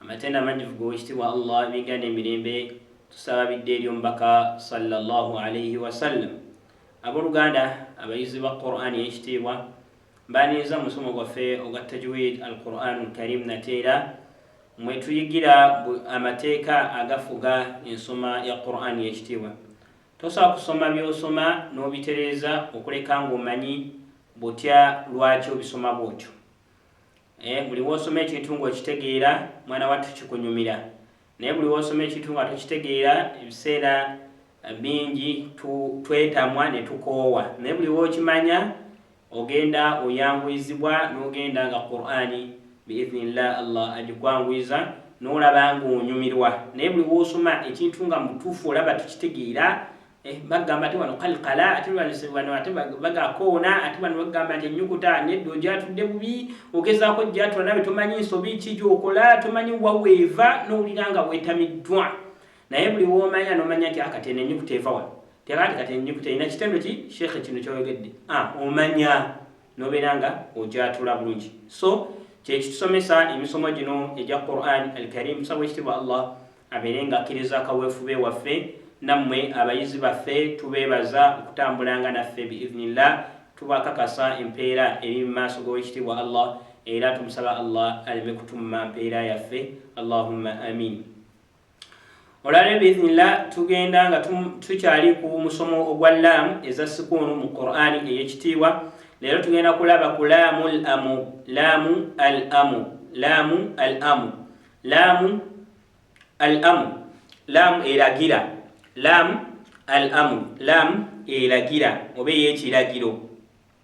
Amatendo amanyivu g'owekitibwa Allah ebinga n'emirembe tusaba bidde eri omubaka sallallahu alaihi wasallam. Aboluganda abayizi ba Quran eyekitiibwa mbaaniinza musomo gwaffe ogwa tajwid al Quran karim nateera mwetuyigira amateeka agafuga ensoma ya Quran yekitiibwa. Tosobola kusoma by'osoma n'obitereeza okuleka ng'omanyi butya lwaki obisoma bw'otyo. Eh, buli wosoma ekintu nga okitegeera mwana wattu kikunyumira naye buli wosoma ekintu nga tokitegeera ebiseera eh, bingi twetamwa ne tukoowa naye buli wokimanya ogenda oyanguyizibwa nogenda nga qurani biiznillah allah agikwanguyiza nolaba nga onyumirwa naye buli wosoma ekintu nga mutuufu olaba tukitegeera Eh, bagamba ate wano kalkala ate wano ate bagakoona ate wano bagamba nti enyukuta nedda ogyatudde bubi ogezaako ogyatula nawe tomanyi nsobi ki gyokola tomanyi waweeva nowulira nga wetamiddwa naye buli womanya nomanya nti akatene ah, enyukuta eva wano tekati kati enyukuta erina kitendo ki sheekhe kino kyoyogedde ah, omanya nobeera nga ojatula bulungi so kyekitusomesa emisomo gino egya quran al karim tusaba ekitibwa allah abeere nga akkiriza akaweefube waffe nammwe abayizi baffe tubeebaza okutambulanga naffe biiznillah tubakakasa empeera eri mu maaso g'owekitiibwa allah era tumusaba allah aleme kutumma mpeera yaffe allahumma amin olale biiznillah tugenda nga tukyali ku musomo ogwa laamu eza sikuunu mu qurani eyekitiibwa leero tugenda kulaba ku laamu l amu laamu al amu laamu al amu laamu al amu laamu eragira laamu al amu laamu eragira oba eyekiragiro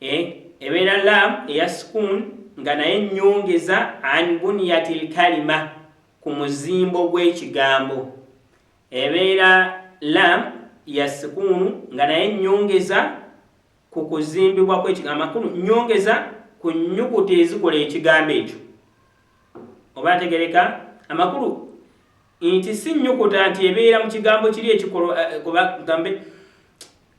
e, ebeera lam eya sukuun nga naye nnyongeza an buniyati lkalima ku muzimbo gw'ekigambo ebeera lam ya sukuunu nga naye nnyongeza ku kuzimbibwa kw'ekigambo amakulu nnyongeza ku nnyukuta ezikola ekigambo ekyo oba ategereka amakulu nti si nnyukuta nti ebeera mu kigambo kiri ekikolo eh, kuba gambe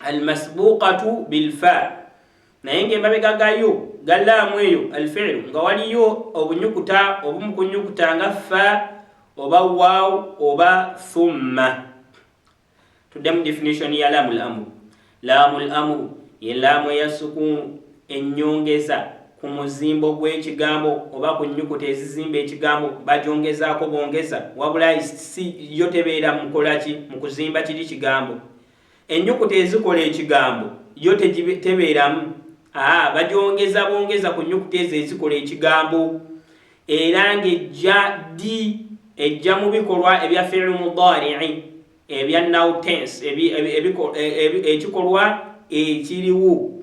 almasbuqatu bilfa naye nga emabega gayo galaamu eyo alfiilu nga waliyo obunyukuta obumu kunyukuta nga fa oba waw oba thumma tuddemu definition ya laamu lamuru laamu lamuru ye laamu eya sukuunu ennyongeza ku muzimbo gw'ekigambo oba ku nnyukuta ezizimba ekigambo bagyongezaako bongeza wabula yo tebeera mukolaki mu kuzimba kiri kigambo Ennyukuta ezikola ekigambo yo tegibe, tebeeramu, a bagyongeza bwongeza ku nnyukuta ezo ezikola ekigambo, era ng'ejja ddi? Ejja mu bikolwa ebya fi'lu mudaari'i ebya now tense, ebi, ebi, ebikolwa, ekikolwa ekiriwo.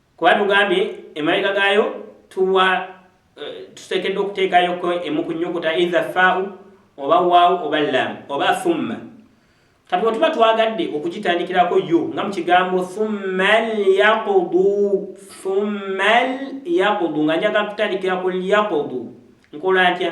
Kuba tugambye emabega gaayo tuwa eh, tuteekeddwa okuteekayoko emu ku nnyukuta either ffaau oba waawu oba laamu oba thumma kati bwe tuba twagadde okugitandikirako yo nga mu kigambo thumma lyaqudu thumma lyaqudu nga njaga kutandikira ku lyaqudu nkola ntya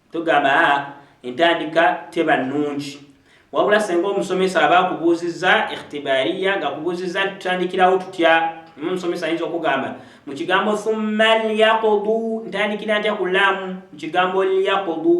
Tugamba a entandika teba nnungi. Wabula senga omusomesa aba akubuuzizza ikhtibariya ng'akubuuzizza nti tutandikirawo tutya, omusomesa ayinza okugamba mu kigambo thumma lyakudu ntandikira ntya ku laamu mu kigambo lyakudu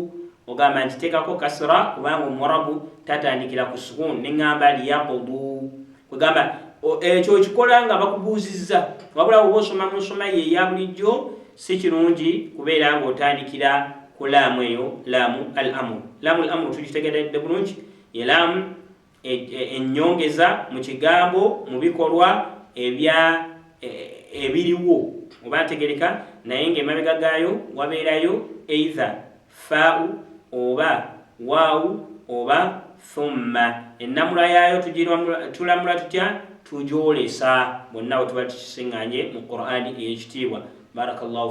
ogamba nti teekako kasira kubanga omuwarabu tatandikira ku sukuun ne ŋŋamba lyakudu kwegamba ekyo okikola nga bakubuuzizza wabula woba osoma mu nsoma ye eya bulijjo si kirungi kubeera ng'otandikira ku laamu eyo laamu al amu laamu al amu tukitegeredde bulungi ye laamu e, e, ennyongeza mu kigambo mu bikolwa ebya e, ebiriwo oba ntegereka naye ng'emabega gaayo wabeerayo either Ffaa'u oba Waawu oba Thumma, ennamula yaayo tulamula tutya? Tugyolesa bonna we tuba tukising'aanye mu Kuraani ey'ekitiibwa. Barakallahu.